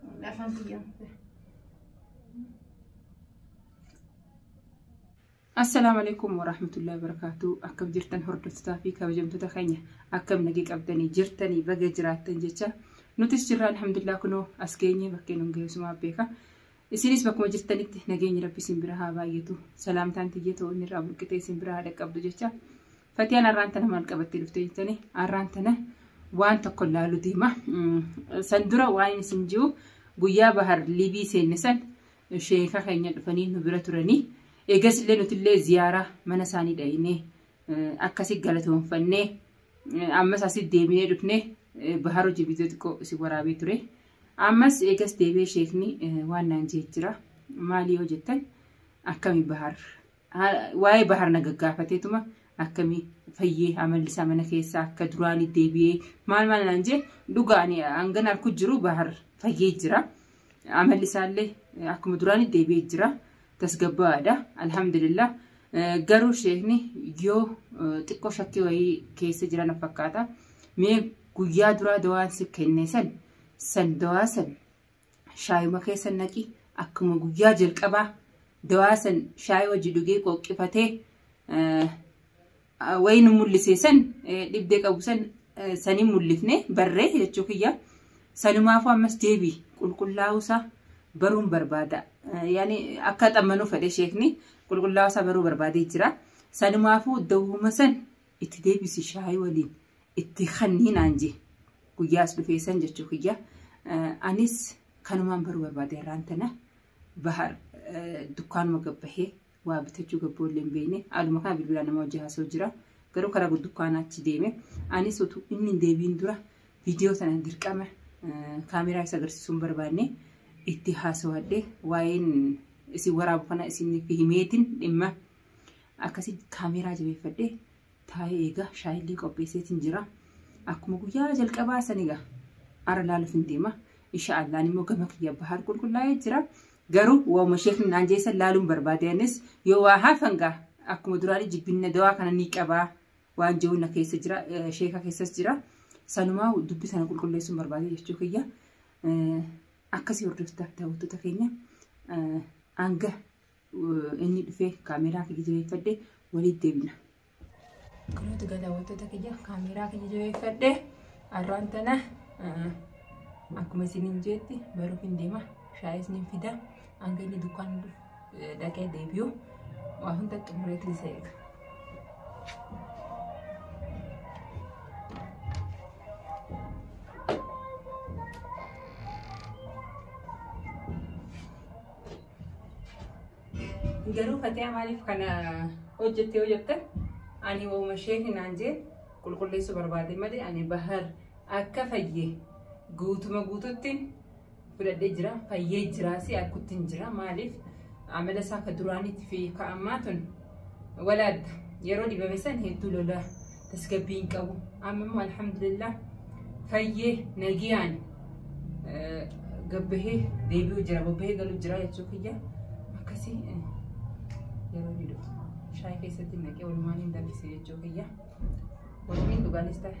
Afaan kiyyaa. Assalaamu alaikum warahmatullahi wabarakatuh. Akkam jirtan hordoftotaa fi kabajamtoota keenya akkam nagee qabdanii jirtanii baga jiraattan jecha nutis jirra alhamdulillah kunoo as geenye bakkee nun geessumaa beeka. Isinis bakkuma jirtanitti nageenyi rabbi isin bira haa baay'atu. Salaamtaan tiyya ta'uu inni irraa burqitee isin bira haa dhaqqabdu jecha Fatiyaan arraan tana maal qabattee dhufte jettanii arraan tana waan tokko laalu deema. San dura waan isin jiru guyyaa bahar liibii seenne san sheeka keenya dhufanii nu bira turanii eegas illee nuti illee ziyaaraa mana isaanii dhayinee akkasi galatoonfannee ammas asi deebinee dhufnee bahar hojii viidiyoo xiqqoo isin waraabee ture. Ammas eegas deebee sheekni waan naan jee jira. Maalii yoo jettan akkami bahar waa'ee bahar na gaggaafateetuma akkamii fayyee amalli isaa mana keessaa akka duraanii deebi'ee maal maal naan jee dhugaa ani hangan arku jiru bahar fayyee jira amalli isaallee akkuma duraanii deebi'ee jira tasgabbaa'aadha alhamdulillah garuu sheekni yoo xiqqoo shakkii wayii keessa jiran fakkaata mee guyyaa duraa dawaan si kenne san san dawaa san shaayuma keessa naqi akkuma guyyaa jalqabaa dawaa san shaayii wajji dhugee qoqqifatee wayii nu mul'isee san dhibdee qabu san sanii mul'ifne barree jechuu kiyya sanumaafuu ammas deebii qulqullaa'uusaa baruun barbaada yaani akka xammanuu fedhe sheekni qulqullaa'uusaa baruu barbaadee jira sanumaafuu dawwuma san itti deebisi shaayii waliin itti kannii naan jee guyyaas dhufee san jechuu kiyya anis kanumaan baruu barbaade irraan tana bahar dukkaanuma gabbahee waa bitachuu gabboollee hin beekne haaluma kana bilbilaa nama hojii haasoo jira garuu karaa dukkaanaa achi deeme anis utuu inni hin deebiin dura viidiyoo sana dirqama kaameraa isa agarsiisuun barbaanne itti haasawadhe waa'een isin waraabu kana isiniif himeetiin dhimma akkasii kaameraa jabeeffadhe Taa'ee egaa shaayillee qopheesseetiin jira. Akkuma guyyaa jalqabaa san egaa ara laaluuf hin deema. Insha Allaah immoo gama kiyya bahar qulqullaa'ee jira. Garuu waa'uma sheekni naan jeessan laaluun barbaade anis yoo waa hafan gaa akkuma duraanii jibbinna dawaa kana ni qabaa waan jiru na keessa jira sheeka keessas jira. Sanumaa dubbi sana qulqulleessuun barbaade jechuu kiyya. Akkasii hordoftaaf daawwattoota keenya hanga inni dhufee kaameeraa kiyya jabeeffadhe walitti deebina. Akkamitti galaawwattoota kiyya kaameeraa kiyya jabeeffadhe arraan tana akkuma isiniin jeetti baruuf hin deema shaayis ni fida hanga inni dukkaan dhaqee deebi'u waa hunda xumureetti isa eega. Garuu Fatiyaa maaliif kana hojjette yoo jette ani wauma ishee hinaan jee qulqulleessuu barbaade malee ani bahar akka fayye guutuma guututti fudhadhee jira fayyee jira si akkutti hin jira maaliif amala isaa ka duraaniitti fi ka ammaa tun walaadda yeroo dhibame san hedduu lolaa tasgabbii hin qabu. Amma immoo alhamdulillah fayyee nagiyaan eh, gabbahee deebi'u jira bobbahee galu jira jechuu kiyya akkasii eh, yeroo ni dhufu shaayii keessatti naqee walumaan hin danfise jechuu kiyya walumaan dhugaanis ta'e.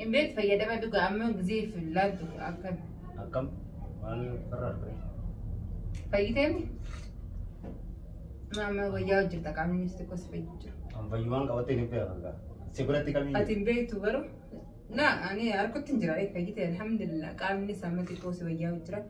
Hin beektu fayyadama dhugaa amma gizeef hin laattu akka Akkam? Waan farra argame. fayyiteemi. Amma wayyaa hojjeta qaamni inni xiqqoo si fayyu jira. An fayyumaan qabattee hin beekaa. Si biratti kamii? Ati hin beektu garuu na ani harkutti hin jira fayyite alhamdulillah qaamni isaa amma xiqqoo si wayyaa jira.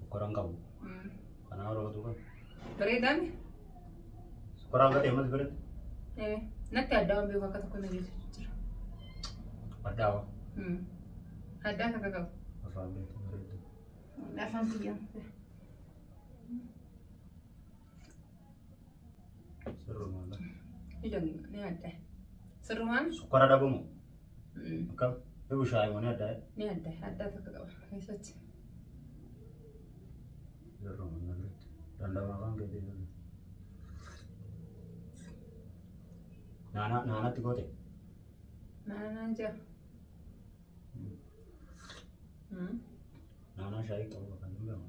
Sukkara hin qabu. Kanaa warra qotuu qabu. Bareedaa mi? Sukkara akka ta'e mati biratti. Eh, Natti adda waan beeku akka tokko na geessu jira. Addaa waa. Hmm. Addaa akka qabu. Afaan beektu bareeddu. Afaan biyyaa. Sirrumaan Sukkara dhabamu. Akkam? Yoo bishaan mana addaa. ni adda addaa tokko qaba keessatti. Yeroo mana biratti. Dandama afaan keetii jiru. Naanaa naanatti goote. Naanaan jira. Naanaa shaayii qabu kan danda'amu.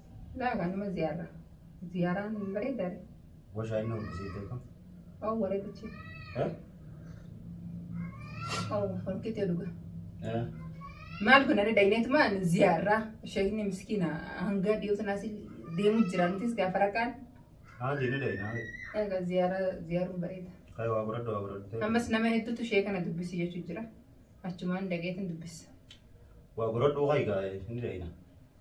Laa kanuma ziyaara. Ziyaaraan hin bareedare. Washaa inni horkisee beeku. Hoo bareedichi. Hoo horkitee dhuga. Maal kun ani dayneetumaan ziyaara. Sheekni miskiina hanga dhiyoo sanaas deemu jira. Nutis gaafa raqaan. Haa deemee daynaa. Egaa ziyaara ziyaaruun bareeda. Kaya waa baradhu waa baradhu ta'e. Ammas nama hedduutu ishee kana dubbisi jechuun jira. Achumaan dhageetiin dubbisa. Waa baradhu haa egaa inni daynaa.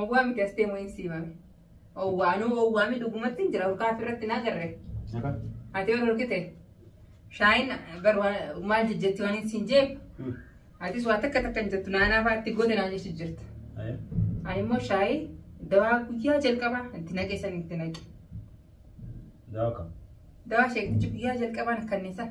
Owwaa miti astee mo'iin siimame. Owwaa anuu owwaa mi dhugumatti hin jira urkaa ofirratti naa garre. Akka? Ati ol urkite. Shaayin bar waan- maal jijjetti waan hin siin jeef. Hmm. Atis waa takka takka hin jettu naanaa fa'aatti gote naa jechu jirta. Aye. Ani immoo shaayii dawaa guyyaa jalqabaa itti naqe san itti naqe. Dawa kam? Dawaa sheektichi guyyaa jalqabaan kanneen san.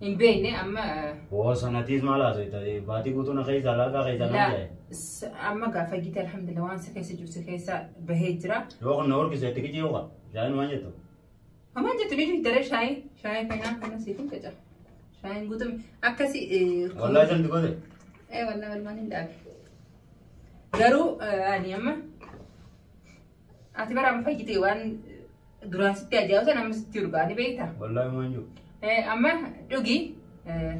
Hin beekne amma Woo sanatiis maal haasofta? Baatii guutuu na keessa alaagaa keessa na laa jedhe. s- amma gaafa gite alhamdulillah waan si keessa jiru si keessa bahee jira. Yoo kun na horkise itti kijii yooka. Shaayin waan jettu. Hamaan jettu ni daree shaayi shaayi kanaa kana siif hin qaca. Shaayiin guutuun akkasi. Wallaahi santi godhe. Ee wallaahi walmaan hin dhaabe. Garuu eh, ani amma Ati bara amma fayyite waan duraan sitti ajaa'ibu sana amma sitti urgaa ni beekta. Wallaahi waan jiru. Eh, Amma dhugi eh,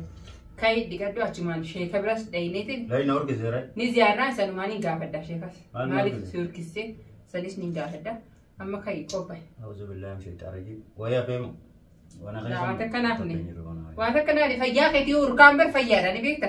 ka'i dhiqadhu achumaan sheeka biras dhayineetiin Laayi na horgeseera. ni ziyaarraa isanumaan hin gaafadha sheekas. Maal na Maaliif horgise? si horkissee sanis ni gaafadha. Amma ka'i qophaa'e. Auzu billahi min shaytaan rajiim. Wayyaa feemu. Wana Laa, waan takka naaf ni. Waan akka naani fayyaa keetii urkaan bar fayyaadha ni beekta.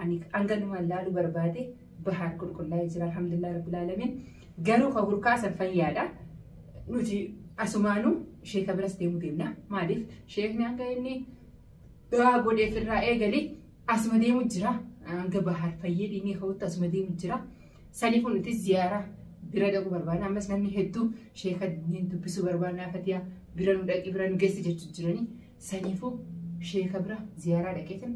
ani hanganumaan laaluu barbaade bahaar qulqullaa'ee jira alhamdulillah rabbil alamin garuu kan hurkaasan fayyaadha nuti asumaanu sheeka biras deemuu deemna maaliif sheekni hanga inni du'aa godheef irraa eegalee asuma deemu jira hanga bahaar fayyee dhiinii ka'utti asuma deemu jira saniifuu nuti ziyaaraa bira dhaquu barbaadna ammas namni hedduu sheeka dubbisuu barbaadna fatiyaa bira nu dhaqi bira nu geessi jechuu jiranii Saniifuu sheeka bira ziyaaraa dhaqeetin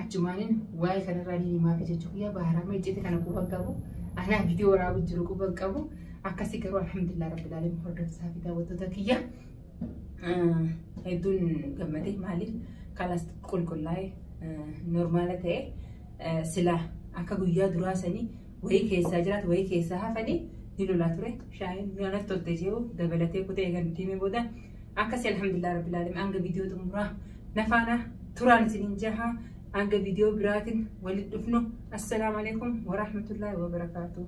achumaanin waa'ee kanarraa ni himaafi jechuu kiyyaa baaraama ijjete kana quba hin qabu. Anaa viidiyoo waraabu jiru quba hin qabu. Akkasii garuu alhamdulillah rabbil alamin hordofsaa fi daawwattoota kiyya. Hedduun gammadee maaliif kalas qulqullaa'e normaala ta'e silaa akka guyyaa duraa sanii wayii keessaa jiraatu wayii keessaa hafanii ni lolaa ture. Shaayiin nyaanatti tolte jiru dabalatee kutee eegan diimee booda Akkasi alhamdulillah rabbil alamin hanga viidiyoo xumuraa nafaana turaan isinin jaha hanga viidiyoo biraatin walit dhufnu assalaamu alaikum warahmatullahi wabarakaatu.